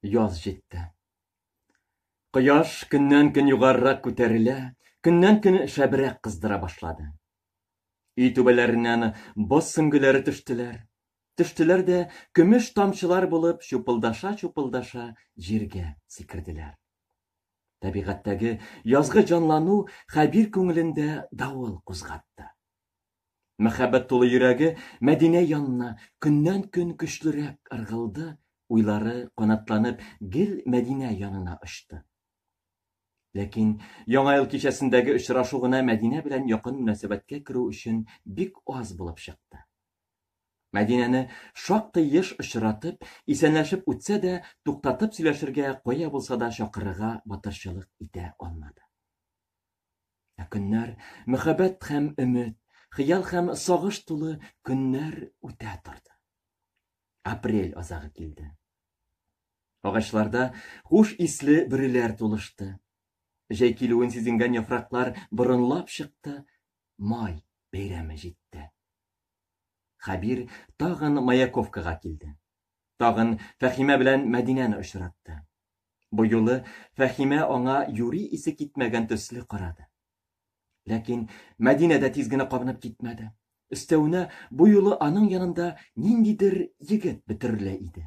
Яз җитте. Кояш көннән-көн югарырак күтәрелә, көннән-көн шәбрәк кыздыра башлады. Өй түбәләреннән боз сөңгеләре төштеләр. Төштеләр дә көмеш тамчылар булып чупылдаша-чупылдаша җиргә сикерделәр. Табигатьтәге язгы җанлану Хәбир күңелендә давыл кузгатты. Мәхәббәт тулы йөрәге Мәдинә янына көннән-көн көчлерәк ыргылды, уйлары, канатланып, гел Мәдинә янына очты. Ләкин Яңа ел кичәсендәге очрашу гына Мәдинә белән якын мөнәсәбәткә керү өчен бик аз булып чыкты. Мәдинәне шактый еш очратып, исәнләшеп үтсә дә, туктатып сөйләшергә, кая булса да чакырырга батырчылык итә алмады. Ә көннәр, мәхәббәт һәм өмет, хыял һәм сагыш тулы көннәр үтә торды. Апрель азагы килде. Агачларда хуш исле бөреләр тулышты. Җәй килүен сизенгән яфраклар борынлап чыкты, май бәйрәме җитте. Хәбир тагын Маяковкага килде. Тагын Фәхимә белән Мәдинәне очратты. Бу юлы Фәхимә аңа юри исе китмәгән төсле карады. Ләкин Мәдинә дә тиз генә кабынып китмәде. Өстәвенә, бу юлы аның янында ниндидер егет бөтерелә иде.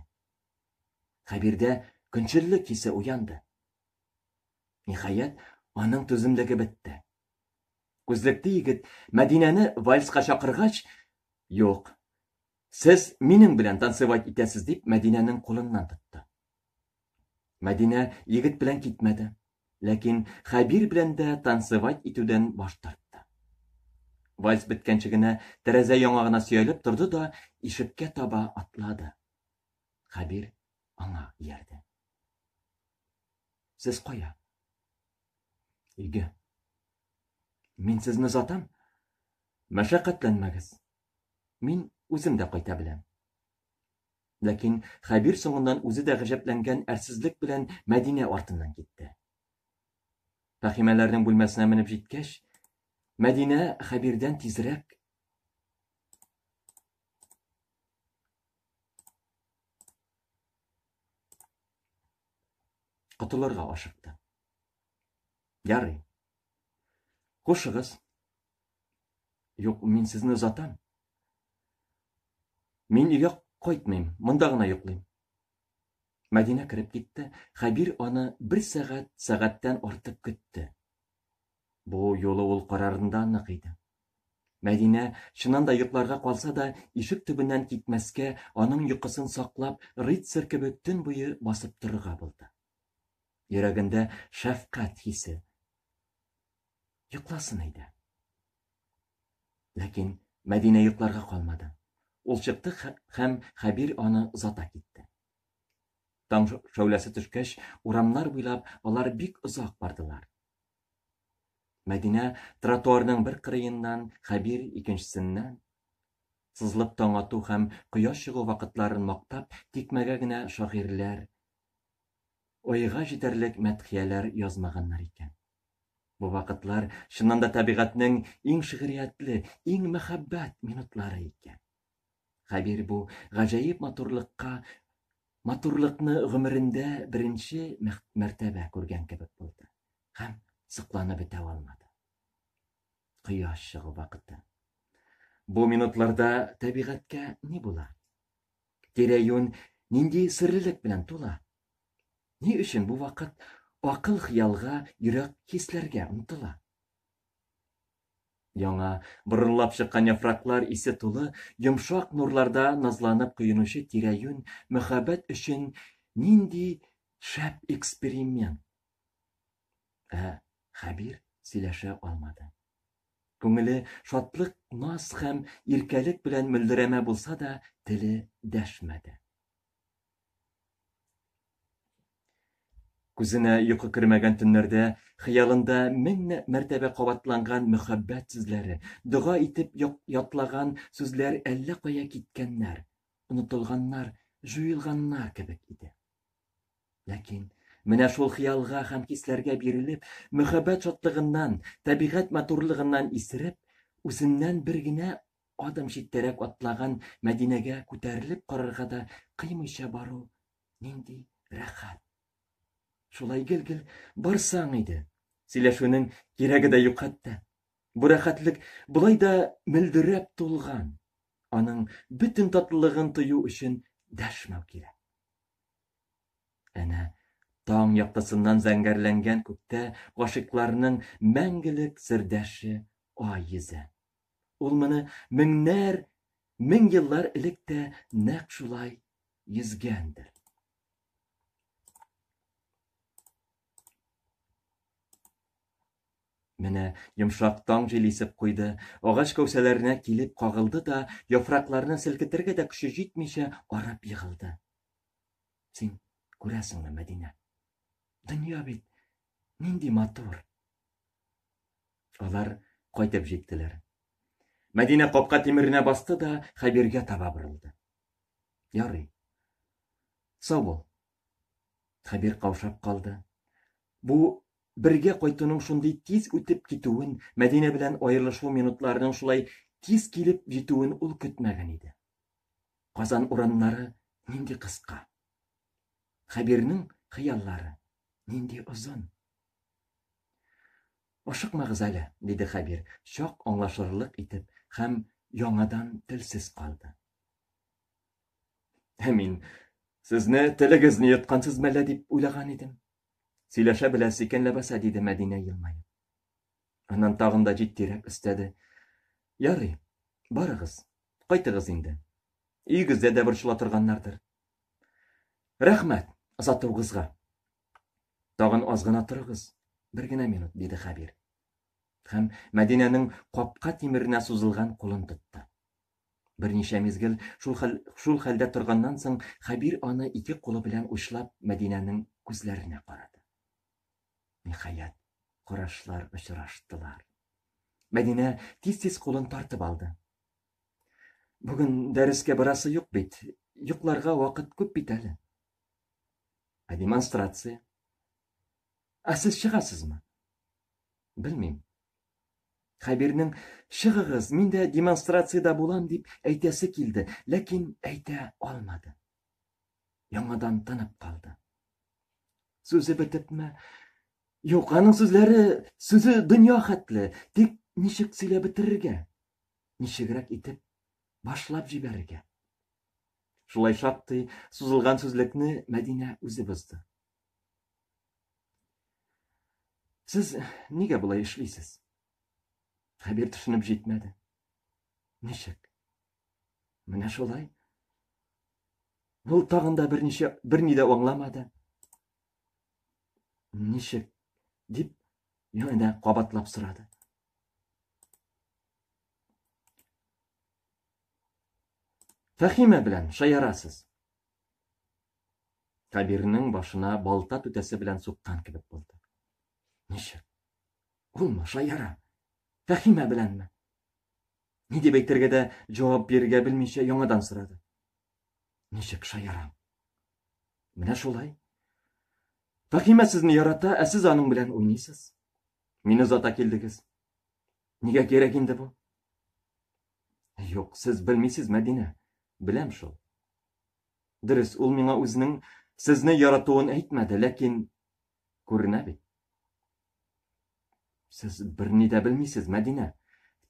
Хәбирдә көнчеллек хисе уянды. Ниһаять, аның түземлеге бетте. Күзлекле егет Мәдинәне вальска чакыргач, Юк, Сез минем белән танцевать итәсез, дип Мәдинәнең кулыннан тотты. Мәдинә егет белән китмәде, ләкин Хәбир белән дә танцевать итүдән баш тартты. Вальс беткәнче генә тәрәзә яңагына сөялеп торды да ишеккә таба атлады. Хәбир аңа иярде. Сез кая? Өйгә. Мин сезне озатам. Мәшәкатьләнмәгез. Мин үзем дә кайта беләм. Ләкин Хәбир соңыннан үзе дә гаҗәпләнгән әрсезлек белән Мәдинә артыннан китте. Фәхимәләрнең бүлмәсенә менеп җиткәч, Мәдинә Хәбирдән тизрәк котылырга ашыкты. Ярый. Хушыгыз, Юк, мин сезне озатам. Мин өйгә кайтмыйм, монда гына йоклыйм. Мәдинә кереп китте. Хәбир аны бер сәгать, сәгатьтән артык көтте. Бу юлы ул карарында нык иде. Мәдинә, чыннан да йокларга калса да, ишек төбеннән китмәскә, аның йокысын саклап, рыцарь кебек төн буе басып торырга булды. Йөрәгендә шәфкать хисе, Йокласын әйдә. Ләкин Мәдинә йокларга калмады. Ул чыкты һәм Хәбир аны озата китте. Таң шәүләсе төшкәч, урамнар буйлап алар бик озак бардылар. Мәдинә тротуарның бер кырыеннан, Хәбир икенчесеннән сызлып таң ату һәм кояш чыгу вакытларын мактап, тикмәгә генә шагыйрьләр ойга җитәрлек мәдхияләр язмаганнар икән. Бу вакытлар, чыннан да, табигатьнең иң шигъриятле, иң мәхәббәт минутлары икән. Хәбир бу гаҗәеп матурлыкка, матурлыкны гомерендә беренче мәртәбә күргән кебек булды һәм сокланып бетә алмады. Кояш чыгу вакыты. Бу минутларда табигатькә ни була? Тирә-юнь нинди серлелек белән тула? Ни өчен бу вакыт акыл хыялга, йөрәк хисләргә омтыла? Яңа борынлап чыккан яфраклар исе тулы йомшак нурларда назланып коенучы тирә-юнь мөхәббәт өчен нинди шәп эксперимент? Ә Хәбир сөйләшә алмады. Күңеле шатлык, наз һәм иркәлек белән мөлдерәмә булса да, теле дәшмәде. Күзенә йокы кермәгән төннәрдә хыялында мең мәртәбә кабатланган мөхәббәт сүзләре, дога итеп ятлаган сүзләр әллә кая киткәннәр, онытылганнар, җуелганнар кебек иде. Ләкин менә шул хыялга һәм хисләргә бирелеп, мөхәббәт шатлыгыннан, табигать матурлыгыннан исереп, үзеннән бер генә адым читтәрәк атлаган Мәдинәгә күтәрелеп карарга да кыймыйча бару нинди рәхәт! Шулай гел-гел барсаң иде. Сөйләшүнең кирәге дә юк хәтта. Бу рәхәтлек болай да мөлдерәп тулган. Аның бөтен татлылыгын тою өчен дәшмәү кирәк. Әнә таң яктысыннан зәңгәрләнгән күктә гашыйкларның мәңгелек сердәше Ай йөзә. Ул моны меңнәр, мең еллар элек тә нәкъ шулай йөзгәндер. Менә йомшак таң җил исеп куйды, агач кәүсәләренә килеп кагылды да, яфракларны селкетергә дә көче җитмичә, арып егылды. Син күрәсеңме, Мәдинә? Дөнья бит нинди матур. Алар кайтып җиттеләр. Мәдинә капка тимеренә басты да Хәбиргә таба борылды. Ярый. Сау бул. Хәбир каушап калды. Бу бергә кайтуның шундый тиз үтеп китүен, Мәдинә белән аерылышу минутларының шулай тиз килеп җитүен ул көтмәгән иде. Казан урамнары нинди кыска? Хәбирнең хыяллары нинди озын? Ашыкмагыз әле, диде Хәбир, чак аңлашырлык итеп һәм яңадан телсез калды. Ә мин сезне телегезне йоткансыз мәллә дип уйлаган идем. Сөйләшә беләсе икән ләбаса, диде Мәдинә елмаеп. Аннан тагын да җитдирәк өстәде. Ярый, барыгыз, кайтыгыз инде. Өегездә дә борчыла торганнардыр. Рәхмәт озатуыгызга. Тагын аз гына торыгыз, бер генә минут, диде Хәбир. Һәм Мәдинәнең капка тимеренә сузылган кулын тотты. Берничә мизгел шул, хәл, шул хәлдә торганнан соң Хәбир аны ике кулы белән учлап Мәдинәнең күзләренә карады. Ниһаять, карашлар очраштылар. Мәдинә тиз-тиз кулын тартып алды. Бүген дәрескә барасы юк бит, йокларга вакыт күп бит әле. Ә демонстрация? Ә сез чыгасызмы? Белмим. Хәбирнең чыгыгыз, мин дә демонстрациядә булам дип әйтәсе килде, ләкин әйтә алмады. яңадан тынып калды. Сүзе бетепме? Юк, аның сүзләре, сүзе дөнья хәтле, тик ничек сөйләп бетерергә? Ничегрәк итеп башлап җибәрергә? Шулай шактый сузылган сүзлекне Мәдинә үзе бозды. Сез нигә болай эшлисез? Хәбир төшенеп җитмәде. Ничек? Менә шулай. Ул тагын да берничә берни дә аңламады. Ничек? дип янә кабатлап сорады. Фәхимә белән шаярасыз. Кабирнең башына балта түтәсе белән суккан кебек булды. Ничек? Улмы, шаяра? Фәхимә беләнме? Ни дип әйтергә дә җавап бирергә белмичә яңадан сорады. Ничек шаярам? Менә шулай. Фәхимә сезне ярата, ә сез аның белән уйныйсыз. Мине озата килдегез. Нигә кирәк инде бу? Юк, сез белмисез, Мәдинә. Беләм шул. Дөрес, ул миңа үзенең сезне яратуын әйтмәде, ләкин Күренә бит. Сез берни дә белмисез, Мәдинә.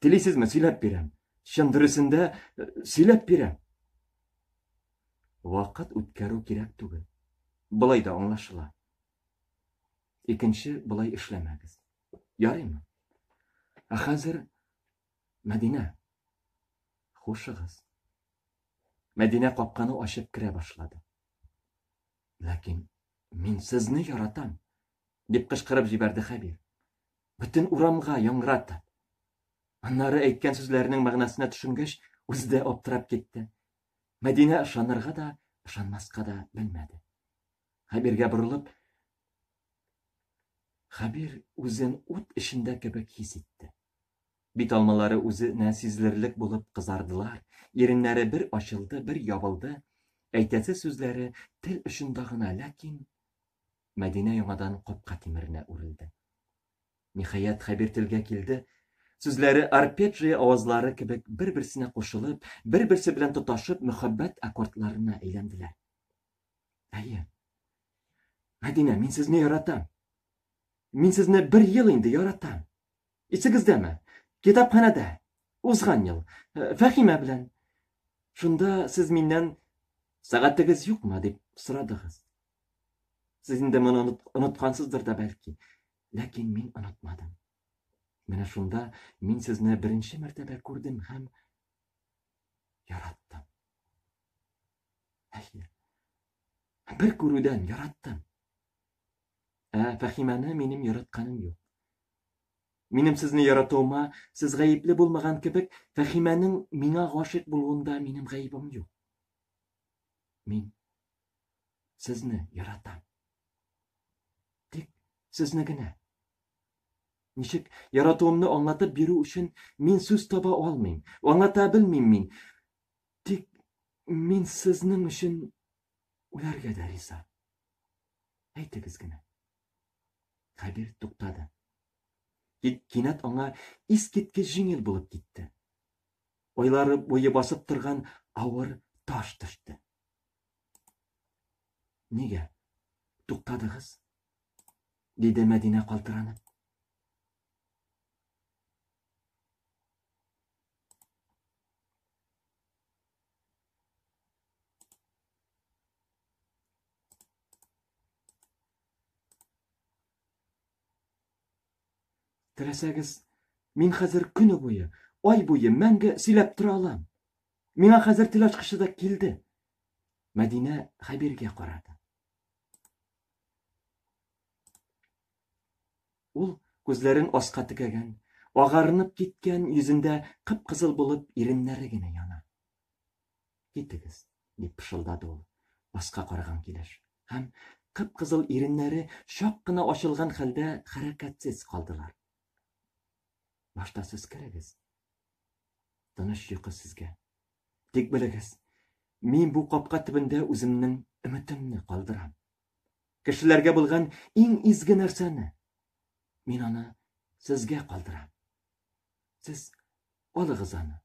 Телисезме, сөйләп бирәм. Чын дөресендә э, сөйләп бирәм. Вакыт үткәрү кирәк түгел. Былай да аңлашыла. Икенче былай эшләмәгез. Ярыймы? Ә хәзер Мәдинә, хушыгыз. Мәдинә капканы ачып керә башлады. Ләкин мин сезне яратам! дип кычкырып җибәрде Хәбир. Бөтен урамга яңгыратып. Аннары әйткән сүзләренең мәгънәсенә төшенгәч, үзе дә аптырап китте. Мәдинә ышанырга да, ышанмаска да белмәде. Хәбиргә борылып, Хәбир үзен ут эчендә кебек хис итте. Бит алмалары үзенә сизелерлек булып кызардылар, иреннәре бер ачылды, бер ябылды, әйтәсе сүзләре тел очында гына, ләкин Мәдинә яңадан капка тимеренә үрелде. Ниһаять, Хәбир телгә килде, сүзләре арпеджия авазлары кебек бер-берсенә кушылып, бер-берсе белән тоташып, мөхәббәт аккордларына әйләнделәр. Әйе. Мәдинә, мин сезне яратам. Мин сезне бер ел инде яратам. Исегездәме, китапханәдә, узган ел, Фәхимә белән. Шунда сез миннән сәгатегез юкмы дип сорадыгыз. Сез инде моны оныткансыздыр да бәлки. Ләкин мин онытмадым. Менә шунда мин сезне беренче мәртәбә күрдем һәм яраттым. Әйе. Бер күрүдән яраттым. Ә Фәхимәне минем яратканым юк. Минем сезне яратуыма сез гаепле булмаган кебек, Фәхимәнең миңа гашыйк булуында минем гаебем юк. Мин сезне яратам. Тик сезне генә. Ничек яратуымны аңлатып бирү өчен мин сүз таба алмыйм. Аңлата белмим мин. Тик мин сезнең өчен Үләргә дә риза. Әйтегез генә. Хәбир туктады. Тик кинәт аңа искиткеч җиңел булып китте. Ойлары буе басып торган авыр таш төште. Нигә? Туктадыгыз? диде Мәдинә калтыранып. Теләсәгез, мин хәзер көне буе, ай буе мәңге сөйләп тора алам. Миңа хәзер тел ачкычы да килде. Мәдинә Хәбиргә карады. Ул күзләрен аска текәгән, агарынып киткән, йөзендә кып-кызыл булып иреннәре генә яна. Китегез, дип пышылдады ул, аска караган килеш. Һәм кып-кызыл иреннәре чак кына ачылган хәлдә хәрәкәтсез калдылар. Башта сез керегез. Тыныч йокы сезгә. Тик белегез, мин бу капка төбендә үземнең өметемне калдырам. Кешеләргә булган иң изге нәрсәне. Мин аны сезгә калдырам. Сез алыгыз аны.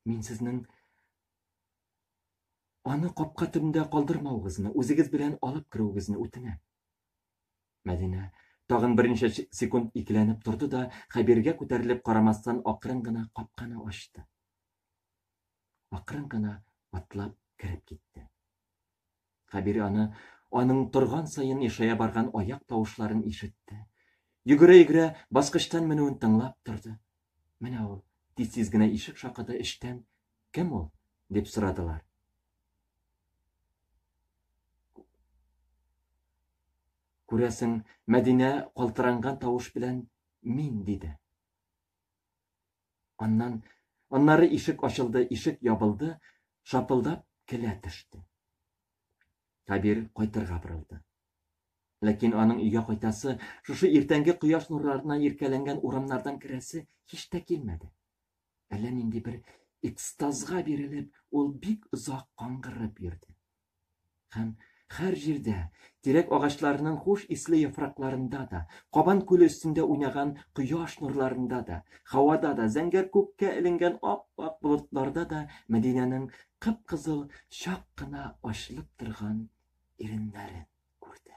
Мин сезнең аны капка төбендә калдырмавыгызны, үзегез белән алып керүегезне үтенәм. Мәдинә тагын берничә секунд икеләнеп торды да, Хәбиргә күтәрелеп карамастан акрын гына капканы ачты. Акрын гына атлап кереп китте. Кабир аны, аның торган саен ешая барган аяк тавышларын ишетте. Йөгерә-йөгерә баскычтан менүен тыңлап торды. Менә ул, тиз-тиз генә ишек шакыды, эчтән, Кем ул? дип сорадылар. Күрәсең, Мәдинә калтыранган тавыш белән, Мин, диде. Аннан, аннары ишек ачылды, ишек ябылды, шапылдап келә төште. Хәбир кайтырга борылды. Ләкин аның өйгә кайтасы, шушы иртәнге кояш нурларына иркәләнгән урамнардан керәсе һич тә килмәде. Әллә нинди бер экстазга бирелеп, ул бик озак каңгырып йөрде. Һәм һәр җирдә, тирәк агачларының хуш исле яфракларында да, Кабан күле өстендә уйнаган кояш нурларында да, һавада да, зәңгәр күккә эленгән ап-ак болытларда да Мәдинәнең кып-кызыл, чак кына ачылып торган иреннәрен күрде.